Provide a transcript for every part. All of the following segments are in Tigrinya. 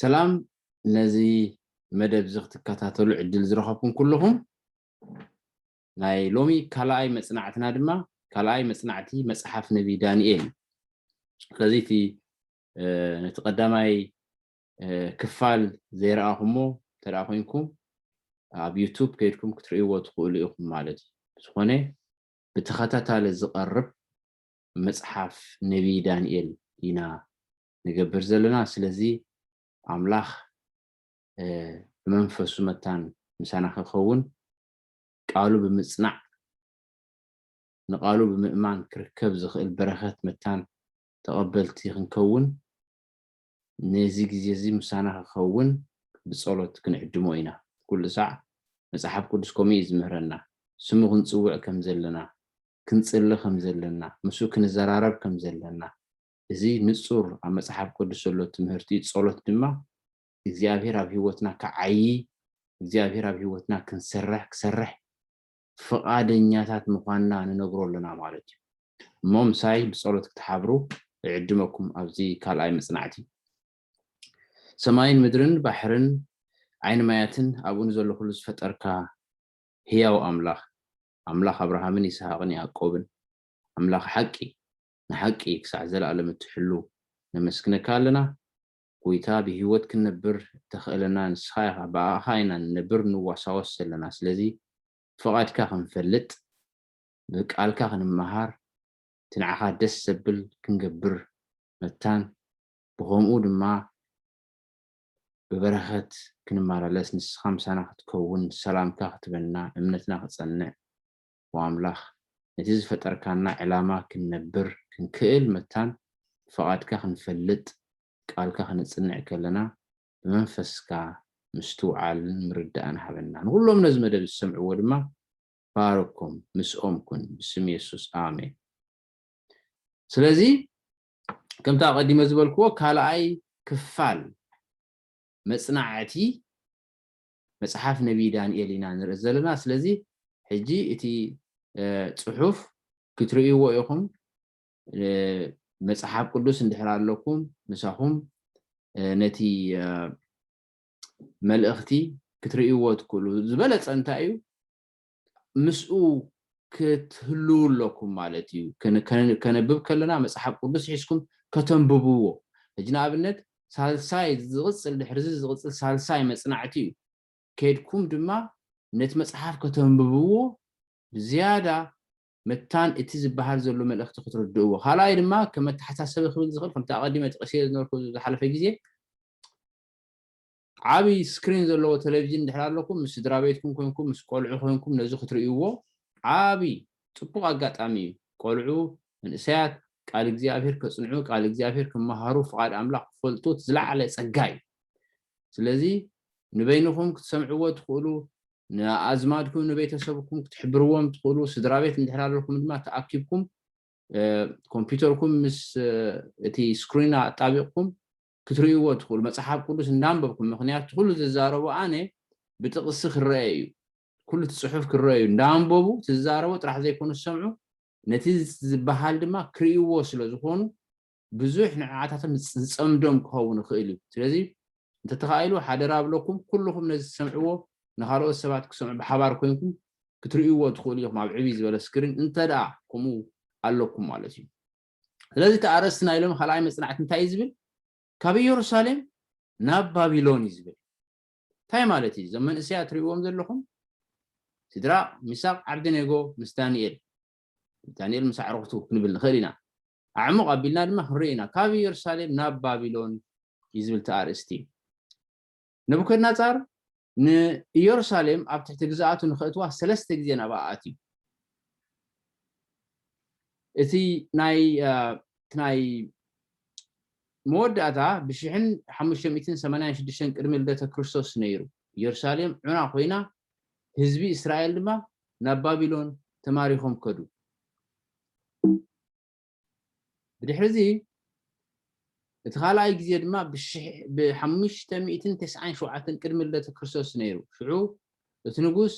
ሰላም ነዚ መደብ እዚ ክትከታተሉ ዕድል ዝረኸብኩም ኩልኹም ናይ ሎሚ ካልኣይ መፅናዕትና ድማ ካልኣይ መፅናዕቲ መፅሓፍ ነቢ ዳንኤል ስለዚ እቲ ነቲ ቀዳማይ ክፋል ዘይረኣኹሞ እንተደኣ ኮንኩም ኣብ ዩቱብ ከይድኩም ክትርእይዎ ትኽእሉ ኢኹም ማለት እዩ ዝኾነ ብተኸታታሊ ዝቐርብ መጽሓፍ ነብዪ ዳንኤል ኢና ንገብር ዘለና። ስለዚ ኣምላኽ ብመንፈሱ መታን ምሳና ክኸውን ቃሉ ብምጽናዕ ንቃሉ ብምእማን ክርከብ ዝኽእል በረኸት መታን ተቐበልቲ ክንከውን ነዚ ግዜ እዚ ምሳና ክኸውን ብጸሎት ክንዕድሞ ኢና። ኩሉ ሳዕ መጽሓፍ ቅዱስ ከምኡ እዩ ዝምህረና። ስሙ ክንጽውዕ ከም ዘለና ክንጽሊ ከም ዘለና፣ ምስኡ ክንዘራረብ ከም ዘለና፣ እዚ ንጹር ኣብ መጽሓፍ ቅዱስ ዘሎ ትምህርቲ እዩ። ጸሎት ድማ እግዚኣብሄር ኣብ ህይወትና ክዓዪ፣ እግዚኣብሄር ኣብ ህይወትና ክንሰርሕ ክሰርሕ ፍቓደኛታት ምዃንና ንነግሮ ኣሎና ማለት እዩ። እሞ ምሳይ ብጸሎት ክትሓብሩ እዕድመኩም ኣብዚ ካልኣይ መጽናዕቲ። ሰማይን ምድርን ባሕርን ዓይኒ ማያትን ኣብኡ ንዘሎ ኩሉ ዝፈጠርካ ህያው ኣምላኽ ኣምላኽ ኣብርሃምን ይስሃቅን ያእቆብን ኣምላኽ ሓቂ ንሓቂ ክሳዕ ዘላኣለም እትሕሉ ነመስግነካ ኣለና ጎይታ ብሂወት ክንነብር እተክእለና ንስካ ኢካ ብኣካ ኢና ንነብር ንዋሳወስ ዘለና ስለዚ ፍቃድካ ክንፈልጥ ብቃልካ ክንመሃር እቲ ንዓካ ደስ ዘብል ክንገብር መታን ብከምኡ ድማ ብበረኸት ክንመላለስ ንስኻ ምሳና ክትከውን ሰላምካ ክትበና እምነትና ክጸንዕ ኦ ኣምላኽ ነቲ ዝፈጠርካና ዕላማ ክንነብር ክንክእል መታን ፍቓድካ ክንፈልጥ ቃልካ ክነጽንዕ ከለና ብመንፈስካ ምስትውዓልን ምርዳእን ሃበና ንኹሎም ነዚ መደብ ዝሰምዕዎ ድማ ባርኮም ምስኦም ኩን ብስም የሱስ ኣሜን ስለዚ ከምቲ ኣቐዲመ ዝበልክዎ ካልኣይ ክፋል መጽናዕቲ መጽሓፍ ነቢይ ዳንኤል ኢና ንርኢ ዘለና ስለዚ ሕጂ እቲ ጽሑፍ ክትርእይዎ ኢኹም መጽሓፍ ቅዱስ እንድሕር ኣለኩም ምሳኹም ነቲ መልእኽቲ ክትርእይዎ ትክእሉ ዝበለፀ እንታይ እዩ ምስኡ ክትህልዉ ኣለኩም ማለት እዩ። ከነብብ ከለና መጽሓፍ ቅዱስ ሒዝኩም ከተንብብዎ። ሕጂ ንኣብነት ሳልሳይ ዝቕጽል ድሕርዚ ዝቕጽል ሳልሳይ መጽናዕቲ እዩ። ኬድኩም ድማ ነቲ መጽሓፍ ከተንብብዎ ብዝያዳ መታን እቲ ዝበሃል ዘሎ መልእኽቲ ክትርድእዎ። ካልኣይ ድማ ከም መተሓሳሰቢ ክብል ዝኽእል ከምቲ ኣቐዲመ ጠቒሰዮ ዝነበርኩ ዝሓለፈ ግዜ ዓቢ ስክሪን ዘለዎ ተለቪዥን እንድሕር ኣለኩም፣ ምስ ስድራቤትኩም ኮንኩም፣ ምስ ቆልዑ ኮንኩም ነዚ ክትርእይዎ ዓቢ ጽቡቕ ኣጋጣሚ እዩ። ቆልዑ፣ መንእሰያት ቃል እግዚኣብሄር ከጽንዑ፣ ቃል እግዚኣብሄር ክመሃሩ፣ ፍቓድ ኣምላኽ ክፈልጡ እቲ ዝለዓለ ጸጋ እዩ። ስለዚ ንበይንኹም ክትሰምዕዎ ትኽእሉ፣ ንኣዝማድኩም ንቤተሰብኩም ክትሕብርዎም ትኽእሉ፣ ስድራቤት እንድሕር ኣለኩም ድማ ተኣኪብኩም ኮምፒውተርኩም ምስ እቲ ስክሪና ኣጣቢቕኩም ክትርእይዎ ትኽእሉ። መጽሓፍ ቅዱስ እንዳንበብኩም ምኽንያቱ ትኹሉ ዝዛረቦ ኣነ ብጥቕሲ ክረኣ እዩ ኩሉ እቲ ጽሑፍ ክረኣ እዩ እንዳንበቡ ትዛረቦ ጥራሕ ዘይኮኑ ዝሰምዑ ነቲ ዝበሃል ድማ ክርእይዎ ስለ ዝኾኑ ብዙሕ ንዕዓታቶም ዝጸምዶም ክኸውን ይኽእል እዩ ስለዚ እንተተኻኢሉ ሓደራ ብለኩም ኩልኹም ነዚ ትሰምዕዎ ንኻልኦት ሰባት ክሰምዑ ብሓባር ኮይንኩም ክትርእይዎ ትኽእሉ ኢኹም ኣብ ዕብይ ዝበለ ስክሪን እንተደኣ ከምኡ ኣለኩም ማለት እዩ ስለዚ እቲ ኣርእስቲ ናይ ሎሚ ካልኣይ መጽናዕቲ እንታይ እዩ ዝብል ካብ ኢየሩሳሌም ናብ ባቢሎን እዩ ዝብል እንታይ ማለት እዩ እዞም መንእሰያ ትርእዎም ዘለኹም ስድራ ሚሳቅ ዓብደኔጎ ምስ ዳንኤል ዳንኤል ምስ ኣዕርኽቱ ክንብል ንኽእል ኢና ኣዕሙቕ ኣቢልና ድማ ክንርኢ ኢና ካብ ኢየሩሳሌም ናብ ባቢሎን እዩ ዝብል ተኣርእስቲ እዩ ነቡከድነጻር ንኢየሩሳሌም ኣብ ትሕቲ ግዝኣቱ ንኸእትዋ ሰለስተ ግዜ ናብኣ ኣትዩ። እቲ ናይ መወዳእታ ብሽሕን ሓሙሽተ ሚእትን ሰማንያን ሽዱሽተን ቅድሚ ልደተ ክርስቶስ ነይሩ። ኢየሩሳሌም ዑና ኮይና ህዝቢ እስራኤል ድማ ናብ ባቢሎን ተማሪኾም ከዱ። ብድሕርዚ እቲ ካልኣይ ግዜ ድማ ብ ሓሙሽተ ሚእትን ተስዓን ሸውዓተን ቅድሚ ልደተ ክርስቶስ ነይሩ። ሽዑ እቲ ንጉስ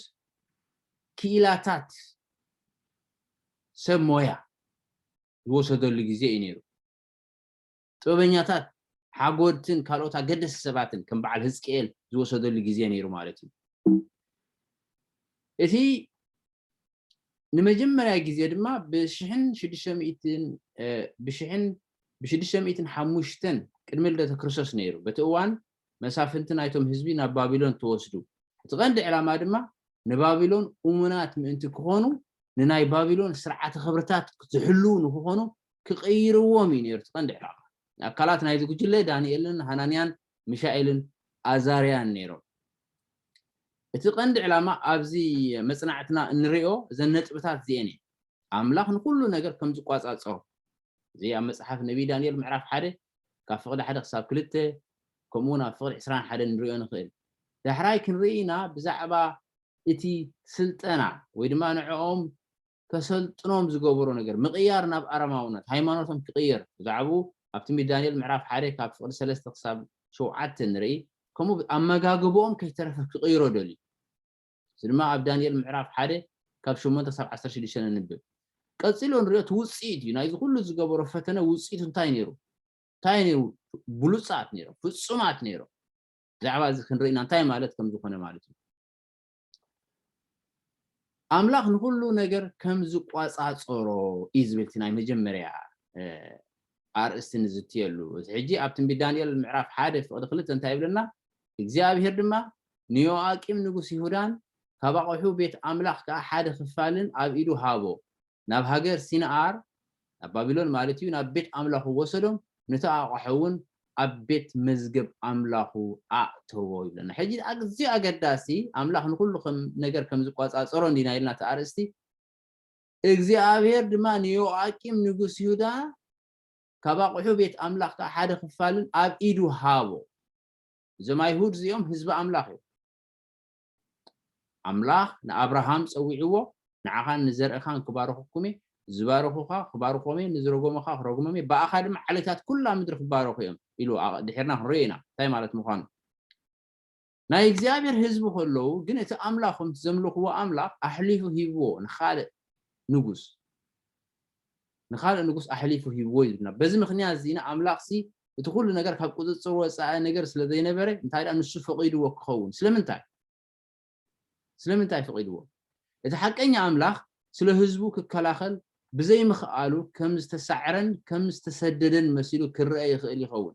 ክኢላታት ሰብ ሞያ ዝወሰደሉ ግዜ እዩ ነይሩ። ጥበበኛታት፣ ሓጎድትን ካልኦት ኣገደስቲ ሰባትን ከም በዓል ህዝቅኤል ዝወሰደሉ ግዜ ነይሩ ማለት እዩ። እቲ ንመጀመርያ ግዜ ድማ ብሽሕን ሽዱሽተ ሚእትን ብሽሕን ብሽዱሽተ ሚእትን ሓሙሽተን ቅድሚ ልደተ ክርስቶስ ነይሩ። በቲ እዋን መሳፍንቲ ናይቶም ህዝቢ ናብ ባቢሎን ተወስዱ። እቲ ቀንዲ ዕላማ ድማ ንባቢሎን እሙናት ምእንቲ ክኾኑ፣ ንናይ ባቢሎን ስርዓተ ክብርታት ዝሕልዉ ንክኾኑ ክቕይርዎም እዩ ነይሩ እቲ ቀንዲ ዕላማ። ኣካላት ናይዚ ጉጅለ ዳንኤልን ሃናንያን ሚሻኤልን ኣዛርያን ነይሮም። እቲ ቀንዲ ዕላማ ኣብዚ መጽናዕትና እንርእዮ እዘን ነጥብታት እዚኤን እየን፣ ኣምላኽ ንኹሉ ነገር ከም ዝቋጻጸሮ። እዚ ኣብ መጽሓፍ ነብዪ ዳንኤል ምዕራፍ ሓደ ካብ ፍቕዲ ሓደ ክሳብ ክልተ ከምኡውን ኣብ ፍቕዲ ዕስራን ሓደን ንርእዮ ንኽእል። ዳሕራይ ክንርኢ ኢና ብዛዕባ እቲ ስልጠና ወይ ድማ ንዕኦም ከሰልጥኖም ዝገበሮ ነገር፣ ምቕያር ናብ ኣረማውነት፣ ሃይማኖቶም ክቕየር፣ ብዛዕብኡ ኣብ ትንቢት ዳንኤል ምዕራፍ ሓደ ካብ ፍቕዲ ሰለስተ ክሳብ ሸውዓተ ንርኢ፣ ከምኡ ኣመጋግብኦም ከይተረፈ ክቕይሮ ደልዩ። እዚ ድማ ኣብ ዳንኤል ምዕራፍ ሓደ ካብ ሸሞንተ ክሳብ ዓሰርተ ሽዱሽተ ነንብብ። ቀጺሎ ንሪኦ እቲ ውጽኢት እዩ። ናይዚ ኩሉ ዝገበሮ ፈተነ ውጽኢቱ እንታይ ነይሩ? እንታይ እዩ ነይሩ? ብሉጻት ነይሮም፣ ፍጹማት ነይሮም። ብዛዕባ እዚ ክንርኢ ኢና እንታይ ማለት ከም ዝኾነ ማለት እዩ። ኣምላኽ ንኹሉ ነገር ከም ዝቆጻጸሮ እዩ ዝብል እቲ ናይ መጀመርያ ኣርእስቲ ንዝትየሉ። እዚ ሕጂ ኣብ ትንቢት ዳንኤል ምዕራፍ ሓደ ፍቕዲ ክልተ እንታይ ይብለና? እግዚኣብሄር ድማ ንዮኣቂም ንጉስ ይሁዳን ካብ ኣቕሑ ቤት ኣምላኽ ከኣ ሓደ ኽፋልን ኣብ ኢዱ ሃቦ፣ ናብ ሃገር ሲንኣር፣ ናብ ባቢሎን ማለት እዩ፣ ናብ ቤት ኣምላኹ ወሰዶም፣ ነቲ ኣቕሑውን ኣብ ቤት መዝገብ ኣምላኹ ኣእተዎ ይብለና። ሕጂ ኣዝዩ ኣገዳሲ፣ ኣምላኽ ንዅሉ ኸም ነገር ከም ዝቈጻጸሮ እንዲና ኢልና እቲ ኣርእስቲ፣ እግዚኣብሄር ድማ ንዮኣቂም ንጉስ ይሁዳ ካብ ኣቕሑ ቤት ኣምላኽ ከኣ ሓደ ኽፋልን ኣብ ኢዱ ሃቦ። እዞም ኣይሁድ እዚኦም ህዝቢ ኣምላኽ እዮም። ኣምላኽ ንኣብርሃም ጸዊዕዎ ንዓኻን ንዘርእኻን ክባርኹኩም እየ፣ ዝባረኹኻ ክባርኾም እየ፣ ንዝረጎሙኻ ክረግሞም እየ፣ ብኣኻ ድማ ዓሌታት ኩላ ምድሪ ክባረኹ እዮም ኢሉ ድሒርና ክንሪኦ ኢና እንታይ ማለት ምዃኑ። ናይ እግዚኣብሔር ህዝቢ ከለዉ ግን እቲ ኣምላኾም ዘምልኽዎ ኣምላኽ ኣሕሊፉ ሂብዎ ንኻልእ ንጉስ ንኻልእ ንጉስ ኣሕሊፉ ሂብዎ እዩ ዝብልና። በዚ ምኽንያት እዚ ኢና ኣምላኽሲ እቲ ዅሉ ነገር ካብ ቍጽጽር ወጻኢ ነገር ስለ ዘይነበረ፣ እንታይ ደኣ ንሱ ፈቒድዎ ኪኸውን። ስለምንታይ? ስለምንታይ ፈቒድዎ? እቲ ሓቀኛ ኣምላኽ ስለ ህዝቡ ኪከላኸል ብዘይምኽኣሉ ከም ዝተሳዕረን ከም ዝተሰደደን መሲሉ ኪረኣ ይኽእል ይኸውን።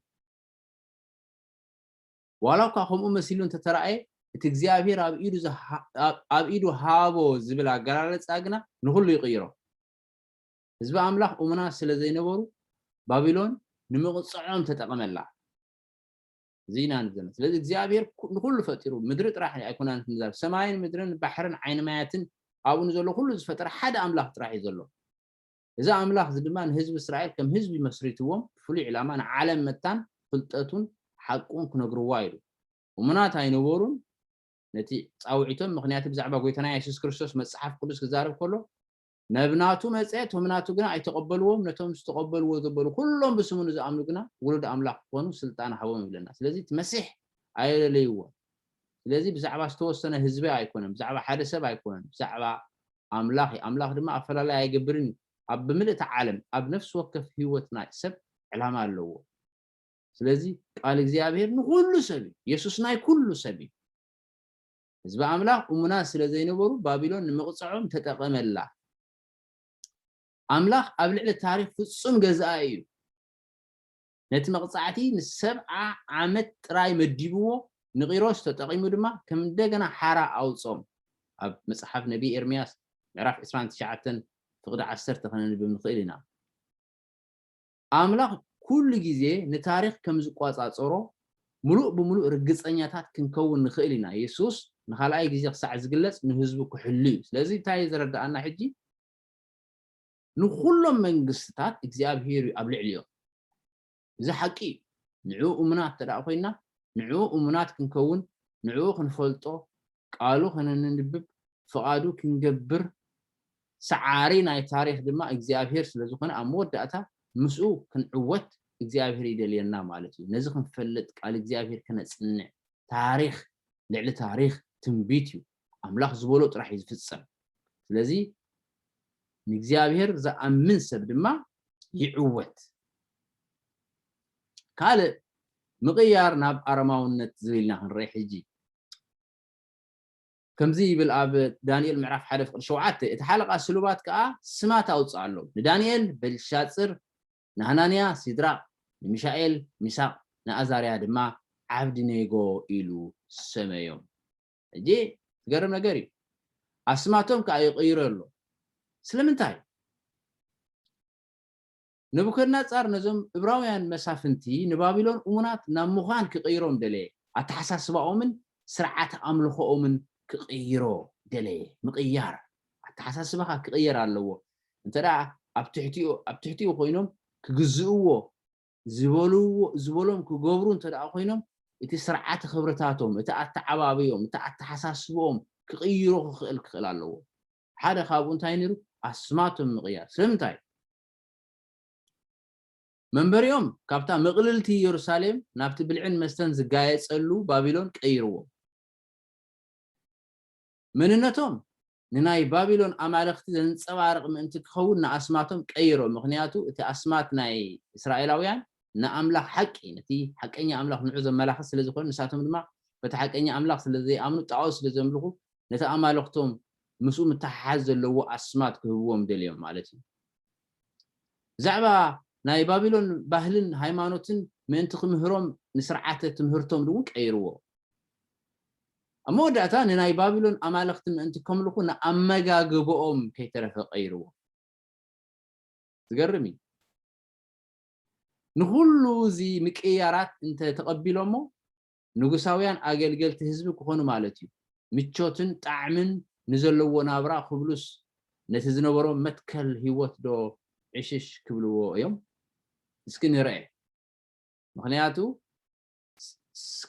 ዋላ እኳ ከምኡ መሲሉ እንተ ተራእየ፣ እቲ እግዚኣብሄር ኣብ ኢዱ ሃቦ ዝብል ኣገላልጻ ግና ንዅሉ ይቕይሮ። ህዝቢ ኣምላኽ እሙናት ስለ ዘይነበሩ፣ ባቢሎን ንምቕጽዖም ተጠቐመላ። እዚ ኢና ንዘና ስለዚ እግዚኣብሄር ንዅሉ ፈጢሩ፣ ምድሪ ጥራሕ ኣይኮናነትን ንዛብ ሰማይን ምድርን ባሕርን ዓይኒ ማያትን ኣብኡ ንዘሎ ዅሉ ዝፈጠረ ሓደ ኣምላኽ ጥራሕ እዩ ዘሎ። እዚ ኣምላኽ እዚ ድማ ንህዝቢ እስራኤል ከም ህዝቢ መስሪትዎም ብፍሉይ ዕላማ ንዓለም መታን ፍልጠቱን ሓቁን ክነግርዋ ኢሉ። እሙናት ኣይነበሩን ነቲ ጻውዒቶም ምኽንያቲ ብዛዕባ ጎይታና የሱስ ክርስቶስ መጽሓፍ ቅዱስ ክዛረብ ከሎ ነብ ናቱ መጸ እቶም ናቱ ግና ኣይተቐበልዎም ነቶም ዝተቐበልዎ ዘበሉ ኩሎም ብስሙ ንዝኣምኑ ግና ውሉድ ኣምላኽ ክኾኑ ስልጣን ሃቦም ይብለና። ስለዚ እቲ መሲሕ ኣየለለይዎን። ስለዚ ብዛዕባ ዝተወሰነ ህዝቢ ኣይኮነን፣ ብዛዕባ ሓደ ሰብ ኣይኮነን፣ ብዛዕባ ኣምላኽ እዩ። ኣምላኽ ድማ ኣፈላላይ ኣይገብርን እዩ። ኣብ ብምልእታ ዓለም ኣብ ነፍሲ ወከፍ ህይወት ናይ ሰብ ዕላማ ኣለዎ። ስለዚ ቃል እግዚኣብሔር ንኹሉ ሰብ እዩ። የሱስ ናይ ኩሉ ሰብ እዩ። ህዝቢ ኣምላኽ እሙናት ስለ ዘይነበሩ ባቢሎን ንምቕጽዖም ተጠቐመላ። ኣምላኽ ኣብ ልዕሊ ታሪኽ ፍጹም ገዛኢ እዩ። ነቲ መቕጻዕቲ ን ሰብዓ ዓመት ጥራይ መዲብዎ፣ ንቂሮስ ተጠቒሙ ድማ ከም እንደገና ሓራ ኣውጽኦም። ኣብ መጽሓፍ ነብዪ ኤርምያስ ምዕራፍ ዕስራን ትሽዓተን ፍቕዲ ዓሰርተ ከነንብብ ንኽእል ኢና። ኣምላኽ ኩሉ ግዜ ንታሪኽ ከም ዝቆጻጸሮ ምሉእ ብምሉእ ርግጸኛታት ክንከውን ንኽእል ኢና። የሱስ ንኻልኣይ ግዜ ክሳዕ ዝግለጽ ንህዝቡ ክሕሉ እዩ። ስለዚ እንታይ እዩ ዘረድኣና ሕጂ? ንኹሎም መንግስትታት እግዚኣብሄር እዩ ኣብ ልዕሊኦም። እዚ ሓቂ እዩ። ንዕኡ እሙናት እንተደኣ ኮይንና፣ ንዕኡ እሙናት ክንከውን፣ ንዕኡ ክንፈልጦ፣ ቃሉ ከነንንብብ፣ ፍቓዱ ክንገብር፣ ሰዓሪ ናይ ታሪኽ ድማ እግዚኣብሄር ስለ ዝኾነ ኣብ መወዳእታ ምስኡ ክንዕወት እግዚኣብሄር ይደልየና ማለት እዩ። ነዚ ክንፈልጥ ቃል እግዚኣብሄር ከነጽንዕ፣ ታሪኽ ልዕሊ ታሪኽ ትንቢት እዩ። ኣምላኽ ዝበሎ ጥራሕ እዩ ዝፍጸም ስለዚ ንእግዚኣብሔር ዝኣምን ሰብ ድማ ይዕወት ካልእ ምቕያር ናብ ኣረማውነት ዝብል ኢና ክንርኢ ሕጂ ከምዚ ይብል ኣብ ዳንኤል ምዕራፍ ሓደ ፍቅሪ ሸውዓተ እቲ ሓለቓ ስሉባት ከዓ ስማት ኣውፅኣሎም ንዳንኤል በልሻፅር ንሃናንያ ሲድራቅ ንሚሻኤል ሚሳቅ ንኣዛርያ ድማ ዓብድኔጎ ኢሉ ሰመዮም ሕጂ ዝገርም ነገር እዩ ኣስማቶም ከኣ ይቕይሮ ኣሎ ስለምንታይ ነቡከድናጻር ነዞም እብራውያን መሳፍንቲ ንባቢሎን እሙናት ናብ ምዃን ክቕይሮም ደለየ ኣተሓሳስባኦምን ስርዓተ ኣምልኾኦምን ክቕይሮ ደለየ ምቕያር ኣተሓሳስባኻ ክቕየር ኣለዎ እንተ ኣብ ትሕቲኡ ኣብ ትሕቲኡ ኮይኖም ክግዝእዎ ዝበልዎ ዝበሎም ክገብሩ እንተ ደኣ ኮይኖም እቲ ስርዓተ ክብርታቶም፣ እቲ ኣተዓባብይኦም፣ እቲ ኣተሓሳስብኦም ክቕይሮ ክኽእል ክኽእል ኣለዎ። ሓደ ካብኡ እንታይ ነይሩ? ኣስማቶም ምቕያር። ስለምንታይ? መንበሪኦም ካብታ ምቕልልቲ የሩሳሌም ናብቲ ብልዕን መስተን ዝጋየጸሉ ባቢሎን ቀይርዎም። መንነቶም ንናይ ባቢሎን ኣማልኽቲ ዘንጸባርቕ ምእንቲ ኪኸውን ንኣስማቶም ቀይሮ፣ ምኽንያቱ እቲ ኣስማት ናይ እስራኤላውያን ንኣምላኽ ሓቂ፣ ነቲ ሓቀኛ ኣምላኽ ንዑ ዘመላኽት ስለ ዝዀነ፣ ንሳቶም ድማ በቲ ሓቀኛ ኣምላኽ ስለ ዘይኣምኑ ጣኦት ስለ ዘምልኹ ነቲ ኣማልኽቶም ምስኡ ምትሓሓዝ ዘለዎ ኣስማት ክህብዎም ደልዮም ማለት እዩ። ብዛዕባ ናይ ባቢሎን ባህልን ሃይማኖትን ምእንቲ ክምህሮም ንስርዓተ ትምህርቶም እውን ቀይርዎ። ኣብ መወዳእታ ንናይ ባቢሎን ኣማልኽቲ ምእንቲ ከምልኹ ንኣመጋግባኦም ከይተረፈ ቀይርዎ። ዝገርም እዩ። ንኹሉ እዚ ምቅይያራት እንተ ተቐቢሎሞ ንጉሳውያን ኣገልገልቲ ህዝቢ ክኾኑ ማለት እዩ። ምቾትን ጣዕምን ንዘለዎ ናብራ ክብሉስ ነቲ ዝነበሮም መትከል ህይወት ዶ ዕሽሽ ክብልዎ እዮም? እስኪ ንርኣ። ምኽንያቱ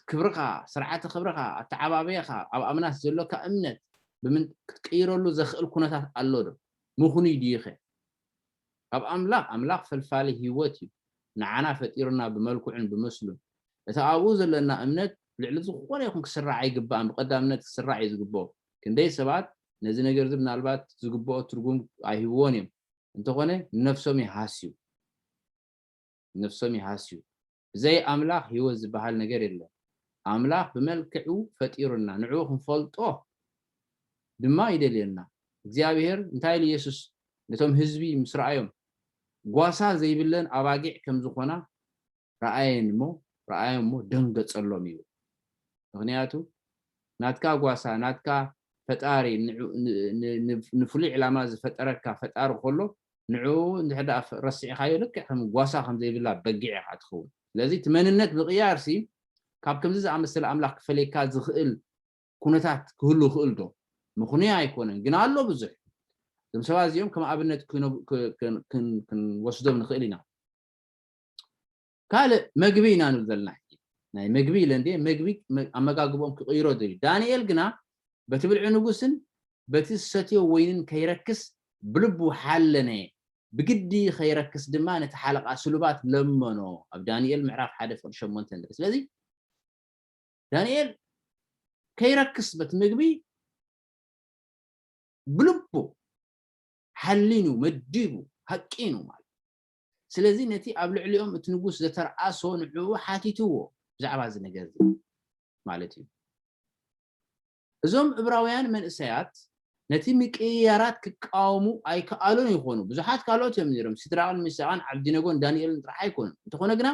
ክብርኻ፣ ስርዓተ ክብርኻ፣ ኣተዓባብያኻ፣ ኣብ ኣምናት ዘሎካ እምነት ብምንት ክትቅይረሉ ዘኽእል ኩነታት ኣሎዶ? ምኽኑይ ድዩኸ? ካብ ኣምላኽ፣ ኣምላኽ ፈልፋሊ ህይወት እዩ፣ ንዓና ፈጢሩና ብመልክዑን ብምስሉን። እቲ ኣብኡ ዘሎና እምነት ልዕሊ ዝኾነ ይኹን ክስራዕ ኣይግባእን፣ ብቐዳምነት ክስራዕ እዩ ዝግብኦ። ክንደይ ሰባት ነዚ ነገርዚ ምናልባት ዝግብኦ ትርጉም ኣይህብዎን እዮም፣ እንተኾነ ንነፍሶም ይሃስዩ፣ ንነፍሶም ይሃስዩ። ብዘይ ኣምላኽ ህይወት ዝበሃል ነገር የለን። ኣምላኽ ብመልክዑ ፈጢሩና፣ ንዕኡ ክንፈልጦ ድማ ይደልየና። እግዚኣብሄር እንታይ ኢሉ የሱስ ነቶም ህዝቢ ምስ ረኣዮም? ጓሳ ዘይብለን ኣባጊዕ ከም ዝዀና ረኣየን እሞ ረኣዮም እሞ ደንገጸሎም ይብል። ምኽንያቱ ናትካ ጓሳ፣ ናትካ ፈጣሪ፣ ንፍሉይ ዕላማ ዝፈጠረካ ፈጣሪ ከሎ ንዕኡ እንድሕር ደኣ ረሲዕካዮ ልክዕ ከም ጓሳ ከም ዘይብላ በጊዕ ኢኻ እትኸውን። ስለዚ እቲ መንነት ምቕያርሲ ካብ ከምዚ ዝኣመሰለ ኣምላኽ ክፈልየካ ዝኽእል ኩነታት ክህሉ ይኽእልዶ? ምኽኑይ ኣይኮነን፣ ግን ኣሎ ብዙሕ። እዞም ሰባት እዚኦም ከም ኣብነት ክንወስዶም ንኽእል ኢና። ካልእ መግቢ ኢና ንብል ዘለና ሕጂ ናይ መግቢ ኢለ እንድየ መግቢ ኣመጋግብኦም ክቕይሮ ደልዩ ዳንኤል ግና በቲ ብልዒ ንጉስን በቲ ዝሰትዮ ወይንን ከይረክስ ብልቡ ሓለነ ብግዲ ከይረክስ ድማ ነቲ ሓለቓ ስሉባት ለመኖ ኣብ ዳንኤል ምዕራፍ ሓደ ፍቕዲ ሸሞንተ ንርኢ ስለዚ ዳንኤል ከይረክስ በቲ ምግቢ ብልቡ ሓሊኑ መዲቡ ሃቂኑ ማለት ስለዚ ነቲ ኣብ ልዕሊኦም እቲ ንጉስ ዘተርኣሶ ንዕኡ ሓቲትዎ ብዛዕባ እዚ ነገር እዚ ማለት እዩ። እዞም እብራውያን መንእሰያት ነቲ ምቅይያራት ክቃወሙ ኣይከኣሉን ይኾኑ። ብዙሓት ካልኦት እዮም ነይሮም፣ ሲድራቅን ሚሳቅን ዓብዲነጎን ዳንኤልን ጥራሕ ኣይኮኑን። እንተኾነ ግና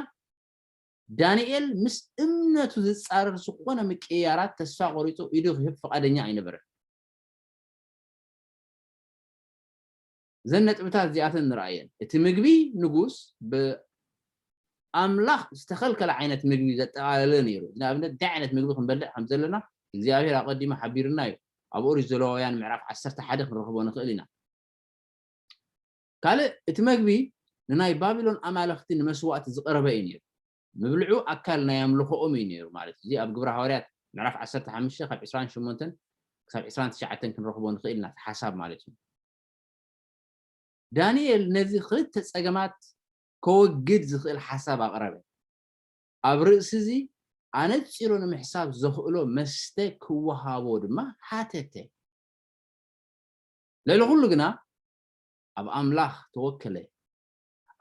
ዳንኤል ምስ እምነቱ ዝጻረር ዝኾነ ምቅይያራት ተስፋ ቆሪጹ ኢዱ ክህብ ፍቃደኛ ኣይነበረን። እዘን ነጥብታት እዚኣተን ንርኣየን። እቲ ምግቢ ንጉስ ብኣምላኽ ዝተኸልከለ ዓይነት ምግቢ ዘጠቓለለ ነይሩ እዩ። ንኣብነት፣ እንታይ ዓይነት ምግቢ ክንበልዕ ከም ዘለና እግዚኣብሄር ኣቐዲሙ ሓቢሩና እዩ። ኣብ ኦሪት ዘሌዋውያን ምዕራፍ ዓሰርተ ሓደ ክንረኽቦ ንኽእል ኢና። ካልእ እቲ መግቢ ንናይ ባቢሎን ኣማልኽቲ ንመስዋእቲ ዝቐረበ እዩ ነይሩ። ምብልዑ ኣካል ናይ ኣምልኾኦም እዩ ነይሩ ማለት እዩ። እዚ ኣብ ግብረ ሃዋርያት ምዕራፍ ዓሰርተ ሓሙሽተ ካብ ዕስራን ሸሞንተን ክሳብ ዕስራን ትሽዓተን ክንረኽቦ ንኽእል ኢና፣ እቲ ሓሳብ ማለት እዩ። ዳንኤል ነዚ ኽልተ ጸገማት ከወግድ ዝኽእል ሓሳብ ኣቕረበ። ኣብ ርእሲዚ ኣነጺሩ ንምሕሳብ ዘኽእሎ መስተ ክወሃቦ ድማ ሓተተ። ልዕሊ ዅሉ ግና ኣብ ኣምላኽ ተወከለ።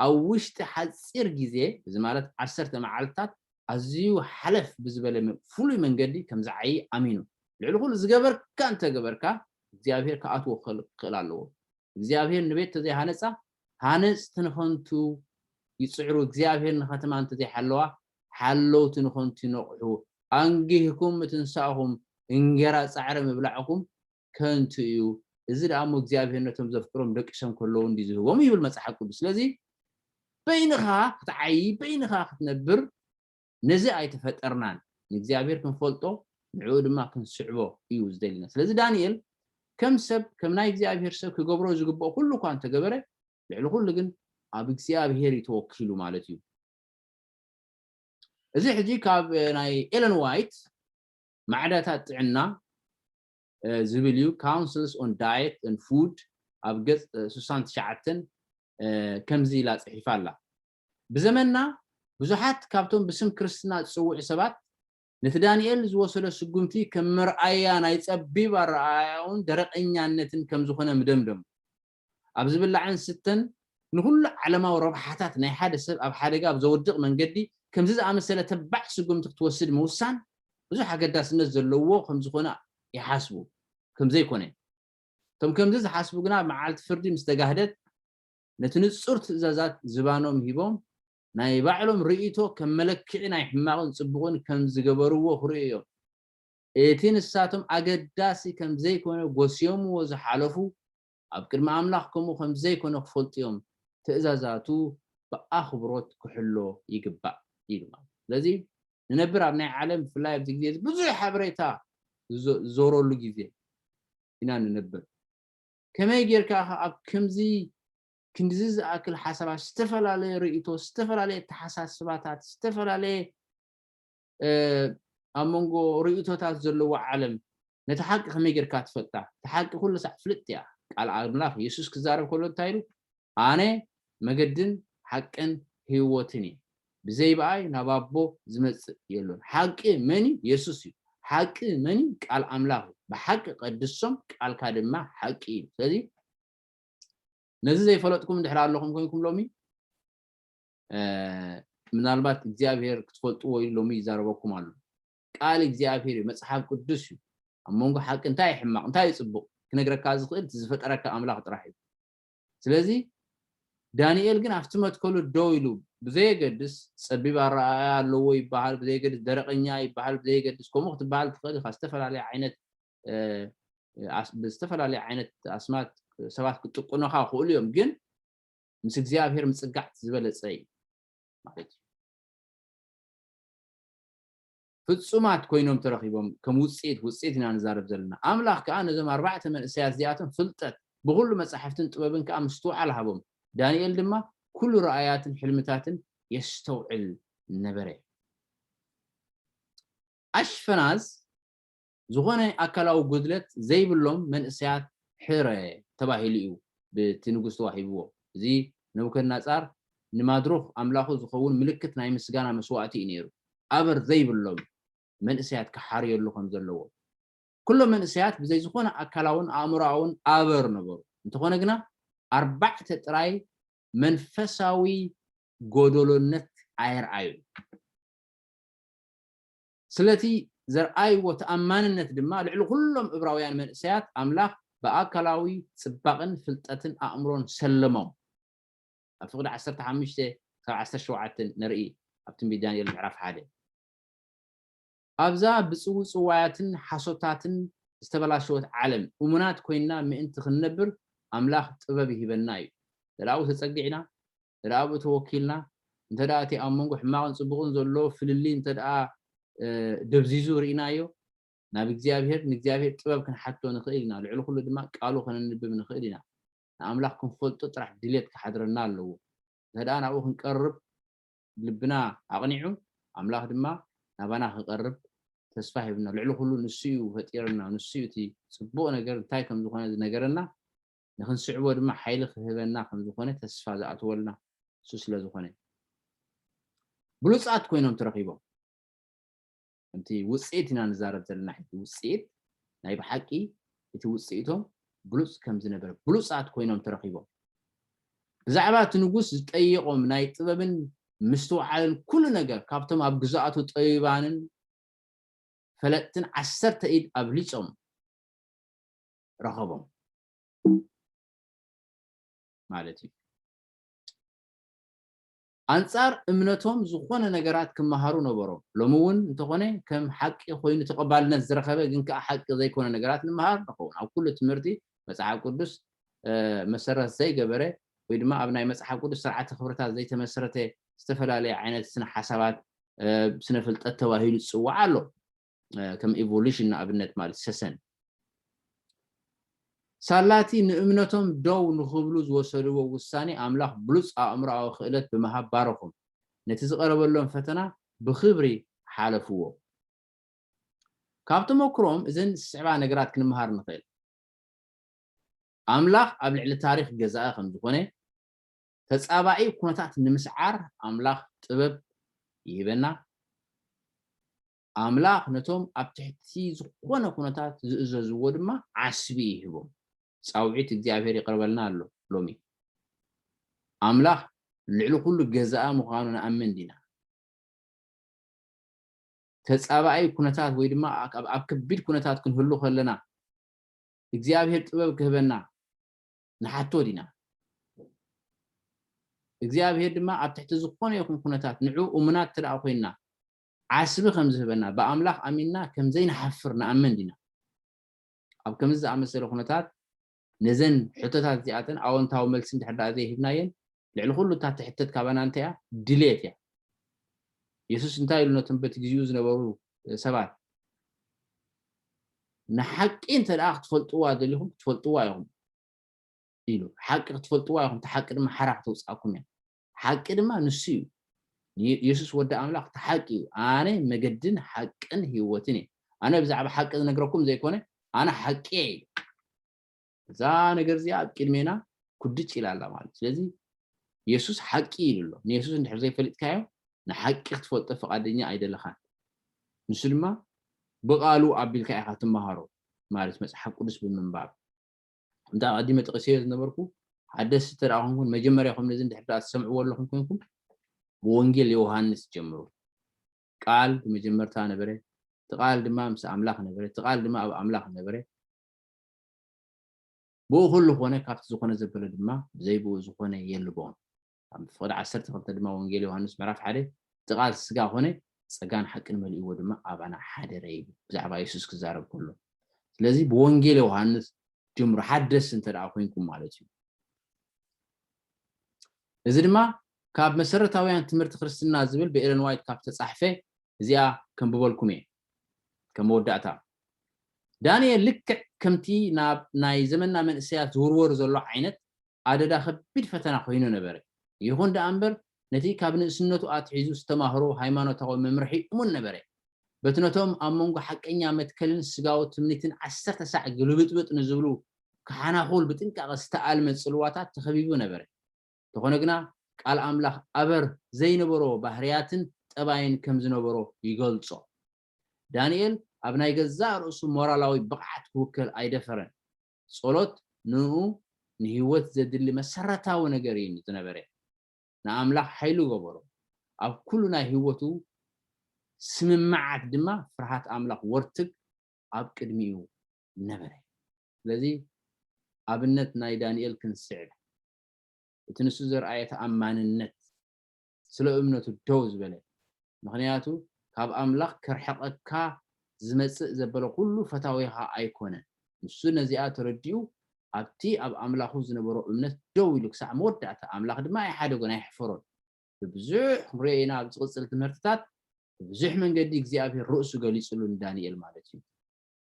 ኣብ ውሽጢ ሓጺር ግዜ፣ እዚ ማለት ዓሰርተ መዓልትታት፣ ኣዝዩ ሓለፍ ብዝበለ ፍሉይ መንገዲ ከም ዝዓዪ ኣሚኑ። ልዕሊ ዅሉ ዝገበርካ እንተ ገበርካ፣ እግዚኣብሄር ክኣትዎ ክኽእል ኣለዎ። እግዚኣብሄር ንቤት እንተ ዘይሃነጻ፣ ሃነጽቲ ንኸንቱ ይጽዕሩ፣ እግዚኣብሄር ንኸተማ እንተ ዘይሓለዋ፣ ሓለውቲ ንኸንቱ ይነቕሑ። ኣንጊህኩም ምትንሳእኹም፣ እንጌራ ጻዕሪ ምብላዕኩም ከንቱ እዩ፣ እዚ ደኣ እሞ እግዚኣብሄር ነቶም ዘፍቅሮም ደቂ ሰም ከለዉ እንድዩ ዝህቦም ይብል መጽሓፍ ቅዱስ። ስለዚ በይንኻ ክትዓዪ በይንኻ ክትነብር ነዚ ኣይተፈጠርናን። ንእግዚኣብሄር ክንፈልጦ ንዕኡ ድማ ክንስዕቦ እዩ ዝደልየና። ስለዚ ዳንኤል ከም ሰብ ከም ናይ እግዚኣብሄር ሰብ ክገብሮ ዝግብኦ ኩሉ እኳ እንተገበረ ልዕሊ ኩሉ ግን ኣብ እግዚኣብሄር እዩ ተወኪሉ ማለት እዩ። እዚ ሕጂ ካብ ናይ ኤለን ዋይት ማዕዳታት ጥዕና ዝብል እዩ፣ Councils on Diet and Food ኣብ ገጽ ስሳን ትሽዓተን ከምዚ ኢላ ጽሒፋ ኣላ፣ ብዘመንና ብዙሓት ካብቶም ብስም ክርስትና ዝጽውዑ ሰባት ነቲ ዳንኤል ዝወሰዶ ስጕምቲ ከም መርኣያ ናይ ጸቢብ ኣረኣእያኡን ደረቐኛነትን ከም ዝዀነ ምደምደሙ። ኣብ ዝብላዕን ዝስተን ንኹሉ ዓለማዊ ረብሓታት ናይ ሓደ ሰብ ኣብ ሓደጋ ኣብ ዘውድቕ መንገዲ ከምዚ ዝኣመሰለ ተባዕ ስጉምቲ ክትወስድ ምውሳን ብዙሕ ኣገዳስነት ዘለዎ ከም ዝኾነ ይሓስቡ ከም ዘይኮነ እቶም ከምዚ ዝሓስቡ ግና ኣብ መዓልቲ ፍርዲ ምስ ተጋህደት ነቲ ንጹር ትእዛዛት ዝባኖም ሂቦም ናይ ባዕሎም ርእይቶ ከም መለክዒ ናይ ሕማቕን ጽቡቕን ከም ዝገበርዎ ክርእዩ እዮም። እቲ ንሳቶም ኣገዳሲ ከም ዘይኰነ ጐስዮምዎ ዝሓለፉ፣ ኣብ ቅድሚ ኣምላኽ ከምኡ ከም ዘይኰነ ኺፈልጡ እዮም፣ ትእዛዛቱ ብኣኽብሮት ኪሕሎ ይግባእ ኢሉ ማለት እዩ። ስለዚ፣ ንነብር ኣብ ናይ ዓለም ብፍላይ ኣብዚ ግዜ እዚ ብዙሕ ሓበሬታ ዚዞረሉ ግዜ ኢና ንነብር። ከመይ ጌርካ ኢኻ ኣብ ከምዚ ክንድዚ ዝኣክል ሓሳባት፣ ዝተፈላለየ ርእይቶ፣ ዝተፈላለየ ኣተሓሳስባታት፣ ዝተፈላለየ ኣብ መንጎ ርእይቶታት ዘለዎ ዓለም ነታ ሓቂ ከመይ ጌርካ ትፈልጣ? እታ ሓቂ ኩሉ ሳዕ ፍልጥቲ እያ። ቃል ኣምላኽ የሱስ ክዛረብ ከሎ እንታይ ኢሉ? ኣነ መገድን ሓቅን ህይወትን እየ፣ ብዘይ ብኣይ ናብ ኣቦ ዝመጽእ የሎን። ሓቂ መን እዩ? የሱስ እዩ። ሓቂ መን እዩ? ቃል ኣምላኽ እዩ። ብሓቂ ቀድሶም፣ ቃልካ ድማ ሓቂ እዩ። ስለዚ ነዚ ዘይፈለጥኩም እንድሕር ኣለኹም ኮይንኩም ሎሚ ምናልባት እግዚኣብሄር ክትፈልጥዎ ኢሉ ሎሚ ይዛረበኩም ኣሎ። ቃል እግዚኣብሄር እዩ፣ መጽሓፍ ቅዱስ እዩ። ኣብ መንጎ ሓቂ እንታይ እዩ ሕማቕ እንታይ እዩ ጽቡቕ ክነግረካ ዝኽእል እቲ ዝፈጠረካ ኣምላኽ ጥራሕ እዩ። ስለዚ ዳንኤል ግን ኣብቲ መትከሉ ደው ኢሉ ብዘየገድስ ጸቢብ ኣረኣእያ ኣለዎ ይበሃል፣ ብዘየገድስ ደረቐኛ ይበሃል፣ ብዘየገድስ ከምኡ ክትበሃል ትኽእል ኢኻ ዝተፈላለየ ዓይነት ብዝተፈላለየ ዓይነት ኣስማት ሰባት ክጥቁኑኻ ይኽእሉ እዮም ግን ምስ እግዚኣብሔር ምጽጋዕ ዝበለጸ እዩ ማለት እዩ ፍጹማት ኮይኖም ተረኺቦም ከም ውጽኢት ውጽኢት ኢና ንዛረብ ዘለና ኣምላኽ ከኣ ነዞም ኣርባዕተ መንእሰያት እዚኣቶም ፍልጠት ብኹሉ መጻሕፍትን ጥበብን ከኣ ምስትውዓል ሃቦም ዳንኤል ድማ ኩሉ ራእያትን ሕልምታትን የስተውዕል ነበረ ኣሽፈናዝ ዝኾነ ኣካላዊ ጉድለት ዘይብሎም መንእሰያት ሕረ ተባሂሉ እዩ ብቲ ንጉስ ተዋሂብዎ። እዚ ነቡከድነጻር ንማድሩኽ ኣምላኹ ዝኸውን ምልክት ናይ ምስጋና መስዋእቲ እዩ ነይሩ፣ ኣበር ዘይብሎም መንእሰያት ክሓርየሉ ከም ዘለዎ። ኩሎም መንእሰያት ብዘይ ዝኾነ ኣካላውን ኣእምሮኣውን ኣበር ነበሩ፣ እንተኾነ ግና ኣርባዕተ ጥራይ መንፈሳዊ ጎደሎነት ኣየርኣዩን። ስለቲ ዘርኣይዎ ተኣማንነት ድማ ልዕሊ ዅሎም እብራውያን መንእሰያት ኣምላኽ ብኣካላዊ ጽባቕን ፍልጠትን ኣእምሮን ሸለሞም። ኣብ ፍቕዲ ዓሰርተ ሓሙሽተ ክሳብ ዓሰርተ ሸውዓተ ንርኢ ኣብ ትንቢት ዳንኤል ምዕራፍ ሓደ። ኣብዛ ብጽውጽዋያትን ሓሶታትን ዝተበላሸወት ዓለም እሙናት ኰይንና ምእንቲ ኽንነብር ኣምላኽ ጥበብ ይህበና ኢዩ። ዘላቒኡ ተጸጊዕና እንተደኣ ኣብኡ ተወኪልና፣ እንተደኣ እቲ ኣብ መንጎ ሕማቕን ጽቡቕን ዘሎ ፍልልይ እንተደኣ ደብዚዙ ርኢናዮ፣ ናብ እግዚኣብሄር፣ ንእግዚኣብሄር ጥበብ ክንሓትቶ ንኽእል ኢና፣ ልዕሊ ኹሉ ድማ ቃሉ ከነንብብ ንኽእል ኢና። ንኣምላኽ ክንፈልጦ ጥራሕ ድሌት ክሓድረና ኣለዎ። እንተደኣ ናብኡ ክንቀርብ ልብና ኣቕኒዑ፣ ኣምላኽ ድማ ናባና ክቐርብ ተስፋ ሂቡና። ልዕሊ ኹሉ ንሱ እዩ ፈጢሩና፣ ንሱ እዩ እቲ ጽቡቕ ነገር እንታይ ከም ዝኾነ ዝነገረና፣ ንኽንስዕቦ ድማ ሓይሊ ክህበና ከም ዝኾነ ተስፋ ዝኣትወልና እሱ ስለ ዝኾነ እዩ። ብሉጻት ኮይኖም ተረኺቦም። ከምቲ ውጽኢት ኢና ንዛረብ ዘለና ሕጂ ውጽኢት ናይ ብሓቂ እቲ ውጽኢቶም ብሉጽ ከም ዝነበረ ብሉጻት ኮይኖም ተረኺቦም ብዛዕባ እቲ ንጉስ ዝጠየቖም ናይ ጥበብን ምስትውዓልን ኩሉ ነገር ካብቶም ኣብ ግዛኣቱ ጠቢባንን ፈለጥትን ዓሰርተ ኢድ ኣብሊጾም ረኸቦም ማለት እዩ ኣንጻር እምነቶም ዝኾነ ነገራት ክመሃሩ ነበሮም ሎሚ እውን እንተኾነ ከም ሓቂ ኮይኑ ተቐባልነት ዝረኸበ ግን ከዓ ሓቂ ዘይኮነ ነገራት ንምሃር ንኸውን ኣብ ኩሉ ትምህርቲ መፅሓፍ ቅዱስ መሰረት ዘይገበረ ወይ ድማ ኣብ ናይ መፅሓፍ ቅዱስ ስርዓተ ክብርታት ዘይተመስረተ ዝተፈላለየ ዓይነት ስነ ሓሳባት ስነ ፍልጠት ተባሂሉ ዝፅዋዕ ኣሎ ከም ኢቮሉሽን ንኣብነት ማለት ሰሰን ሳላቲ ንእምነቶም ደው ንኽብሉ ዝወሰድዎ ውሳኔ ኣምላኽ ብሉጽ ኣእምሮኣዊ ክእለት ብምሃብ ባረኹም። ነቲ ዝቐረበሎም ፈተና ብኽብሪ ሓለፍዎ። ካብ ተመክሮኦም እዘን ዝስዕባ ነገራት ክንምሃር ንኽእል። ኣምላኽ ኣብ ልዕሊ ታሪኽ ገዛኢ ከም ዝኾነ፣ ተጻባኢ ኩነታት ንምስዓር ኣምላኽ ጥበብ ይህበና። ኣምላኽ ነቶም ኣብ ትሕቲ ዝዀነ ኵነታት ዚእዘዝዎ ድማ ዓስቢ ይህቦም። ጻውዒት እግዚኣብሄር ይቐርበልና ኣሎ። ሎሚ፣ ኣምላኽ ልዕሊ ዅሉ ገዛኢ ምዃኑ ንኣምን ዲና? ተጻባኢ ኵነታት ወይ ድማ ኣብ ከቢድ ኵነታት ክንህሉ ኸለና፣ እግዚኣብሄር ጥበብ ኪህበና ንሓትቶ ዲና? እግዚኣብሄር ድማ ኣብ ትሕቲ ዝዀነ ይኹን ኵነታት ንዕኡ እሙናት እንተ ዀይንና፣ ዓስቢ ከም ዝህበና፣ ብኣምላኽ ኣሚንና ከም ዘይንሓፍር ንኣምን ዲና? ኣብ ከምዚ ዝኣመሰለ ኵነታት፣ ነዘን ሕቶታት እዚኣተን ኣወንታዊ መልሲ እንድሕር ደኣ ዘይሂብናየን፣ ልዕሊ ዅሉ እታ እትሕተት ካባና እንታይ እያ? ድሌት እያ። የሱስ እንታይ ኢሉ ነቶም በቲ ግዜኡ ዝነበሩ ሰባት፣ ንሓቂ እንተ ደኣ ክትፈልጥዋ ደሊኹም፣ ክትፈልጥዋ ኢኹም ኢሉ። ሓቂ ክትፈልጥዋ ኢኹም፣ እታ ሓቂ ድማ ሓራ ከተውጽኣኩም እያ። ሓቂ ድማ ንሱ እዩ። ንየሱስ ወዲ ኣምላኽ እቲ ሓቂ እዩ። ኣነ መገድን ሓቅን ህይወትን እየ። ኣነ ብዛዕባ ሓቂ ዝነግረኩም ዘይኮነ ኣነ ሓቂ እየ ኢሉ። እዛ ነገር እዚኣ ኣብ ቅድሜና ኩድጭ ኢላ ኣላ ማለት ስለዚ የሱስ ሓቂ ኢሉ ኣሎ። ንየሱስ እንድሕር ዘይፈልጥካዮ ንሓቂ ክትፈልጦ ፈቓደኛ ኣይደለኻን። ንሱ ድማ ብቓሉ ኣቢልካ ኢኻ ትመሃሮ ማለት መጽሓፍ ቅዱስ ብምንባብ። ከምቲ ኣቐዲመ ጠቒሰዮ ዝነበርኩ ሓደስቲ እንተ ኮንኩም መጀመርያኹም ነዚ እንድሕር ደኣ ትሰምዕዎ ኣለኹም ኮንኩም ብወንጌል ዮሃንስ ጀምሩ። ቃል ብመጀመርታ ነበረ፣ እቲ ቃል ድማ ምስ ኣምላኽ ነበረ፣ እቲ ቃል ድማ ኣብ ኣምላኽ ነበረ። ብኡ ኩሉ ኮነ፣ ካብቲ ዝኾነ ዘበለ ድማ ብዘይ ብኡ ዝኾነ የልቦን። ኣብ ምፍቕድ ዓሰርተ ክልተ ድማ ወንጌል ዮሃንስ ምዕራፍ ሓደ እቲ ቃል ስጋ ኮነ ጸጋን ሓቅን መሊእዎ ድማ ኣባና ሓደረ ይብል ብዛዕባ የሱስ ክዛረብ ከሎ ስለዚ ብወንጌል ዮሃንስ ጀምሩ ሓደስ እንተ ደኣ ኮንኩም ማለት እዩ እዚ ድማ ካብ መሰረታውያን ትምህርቲ ክርስትና ዝብል ብኤለን ዋይት ካብ ተጻሕፈ እዚኣ ከንብበልኩም እየ ከም መወዳእታ ዳንኤል ልክዕ ከምቲ ናብ ናይ ዘመንና መንእሰያት ዝውርወር ዘሎ ዓይነት ኣደዳ ከቢድ ፈተና ኮይኑ ነበረ። ይኹን ደኣ እምበር፣ ነቲ ካብ ንእስነቱ ኣትሒዙ ዝተማህሮ ሃይማኖታዊ መምርሒ እሙን ነበረ። በቲ ነቶም ኣብ መንጎ ሓቀኛ መትከልን ስጋዊ ትምኒትን ዓሰርተ ሳዕ ግልብጥብጥ ንዝብሉ ክሓናኹል ብጥንቃቐ ዝተኣልመ ጽልዋታት ተኸቢቡ ነበረ። እንተኾነ ግና፣ ቃል ኣምላኽ ኣበር ዘይነበሮ ባህርያትን ጠባይን ከም ዝነበሮ ይገልጾ። ዳንኤል ኣብ ናይ ገዛእ ርእሱ ሞራላዊ ብቕዓት ክውከል ኣይደፈረን። ጸሎት ንእኡ ንህይወት ዘድሊ መሰረታዊ ነገር እዩ ዝነበረ። ንኣምላኽ ሓይሉ ገበሮ፣ ኣብ ኩሉ ናይ ህይወቱ ስምምዓት ድማ ፍርሃት ኣምላኽ ወርትግ ኣብ ቅድሚኡ ነበረ። ስለዚ ኣብነት ናይ ዳንኤል ክንስዕብ እቲ ንሱ ዘርኣየ ተኣማንነት፣ ስለ እምነቱ ደው ዝበለ ምክንያቱ ካብ ኣምላኽ ከርሕቀካ ዝመጽእ ዘበለ ኩሉ ፈታዊኻ ኣይኮነን ንሱ ነዚኣ ተረዲኡ ኣብቲ ኣብ ኣምላኹ ዝነበሮ እምነት ደው ኢሉ ክሳዕ መወዳእታ ኣምላኽ ድማ ኣይሓደጎን ኣይሕፈሮን ብብዙሕ ክንሪኦ ኢና ኣብ ዝቅጽል ትምህርትታት ብብዙሕ መንገዲ እግዚኣብሄር ርእሱ ገሊጽሉ ንዳንኤል ማለት እዩ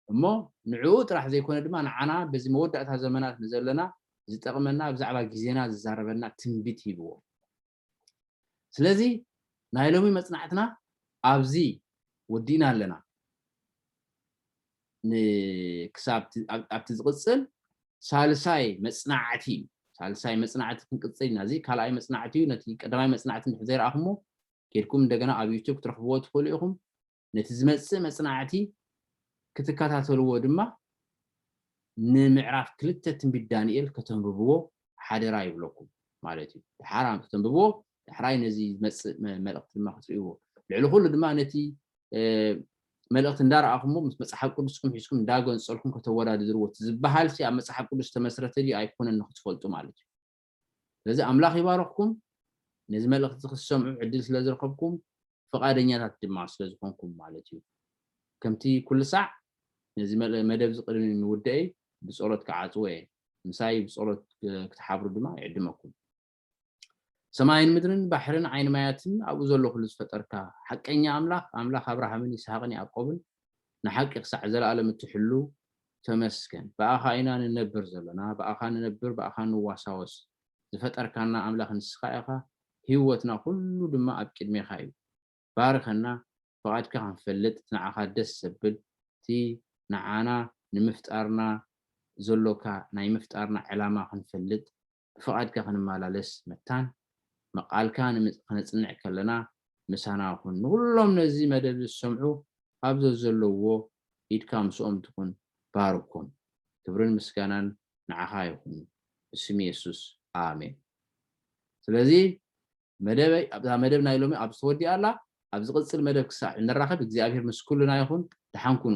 እሞ ንዕኡ ጥራሕ ዘይኮነ ድማ ንዓና በዚ መወዳእታ ዘመናት ንዘለና ዝጠቕመና ብዛዕባ ግዜና ዝዛረበና ትንቢት ሂብዎ። ስለዚ ናይ ሎሚ መጽናዕትና ኣብዚ ወዲእና ኣለና። ን ክሳብ እቲ ኣብ ኣብቲ ዝቕጽል ሳልሳይ መጽናዕቲ እዩ። ሳልሳይ መጽናዕቲ ክንቅጽል ኢና። እዚ ካልኣይ መጽናዕቲ እዩ። ነቲ ቀዳማይ መጽናዕቲ እንድሕር ዘይረኣኹሞ ኬድኩም እንደገና ኣብ ዩቱብ ክትረኽብዎ ትኽእሉ ኢኹም። ነቲ ዝመጽእ መጽናዕቲ ክትከታተልዎ ድማ ንምዕራፍ ክልተ ትንቢት ዳንኤል ከተንብብዎ ሓደራ ይብለኩም ማለት እዩ። ደሓር ኣንቱ ተንብብዎ ዳሕራይ ነዚ ዝመጽእ መልእኽቲ ድማ ክትርእይዎ ልዕሊ ኩሉ ድማ ነቲ መልእኽቲ እንዳረኣኹምዎ ምስ መጽሓፍ ቅዱስኩም ሒዝኩም እንዳገንጸልኩም ከተወዳድርዎ እቲ ዝበሃልሲ ኣብ መጽሓፍ ቅዱስ ዝተመስረተ ድዩ ኣይኮነን ንክትፈልጡ ማለት እዩ። ስለዚ ኣምላኽ ይባርኽኩም ነዚ መልእኽቲ ክትሰምዑ ዕድል ስለ ዝረኸብኩም ፍቓደኛታት ድማ ስለ ዝኾንኩም ማለት እዩ ከምቲ ኩሉ ሳዕ ነዚ መደብ እዚ ቅድሚ ምውደኤይ ብጸሎት ክዓጽዎ እየ ምሳይ ብጸሎት ክትሓብሩ ድማ ይዕድመኩም ሰማይን ምድርን ባሕርን ዓይኒ ማያትን ኣብኡ ዘሎ ኩሉ ዝፈጠርካ ሓቀኛ ኣምላኽ ኣምላኽ ኣብርሃምን ይስሓቅን ያዕቆብን ንሓቂ ክሳዕ ዘለኣለም እትሕሉ ተመስገን ብኣኻ ኢና ንነብር ዘሎና ብኣኻ ንነብር ብኣኻ ንዋሳወስ ዝፈጠርካና ኣምላኽ ንስኻ ኢኻ ሂወትና ኩሉ ድማ ኣብ ቂድሜኻ እዩ ባርኸና ፍቓድካ ክንፈልጥ ንዓኻ ደስ ዘብል እቲ ንዓና ንምፍጣርና ዘሎካ ናይ ምፍጣርና ዕላማ ክንፈልጥ ብፍቓድካ ክንመላለስ መታን መቃልካ ከነጽንዕ ከለና ምሳና ኩን ንኹሎም ነዚ መደብ ዝሰምዑ ኣብ ዘዘለውዎ ኢድካ ምስኦም ትኹን ባርኮም ክብርን ምስጋናን ንዓኻ ይኹን ብስም የሱስ ኣሜን ስለዚ መደበይ ኣብዛ መደብ ናይ ሎሚ ኣብዚ ተወዲኣ ኣላ ኣብ ዝቕጽል መደብ ክሳዕ እንራኸብ እግዚኣብሄር ምስ ኩልና ይኹን ደሓን ኩኑ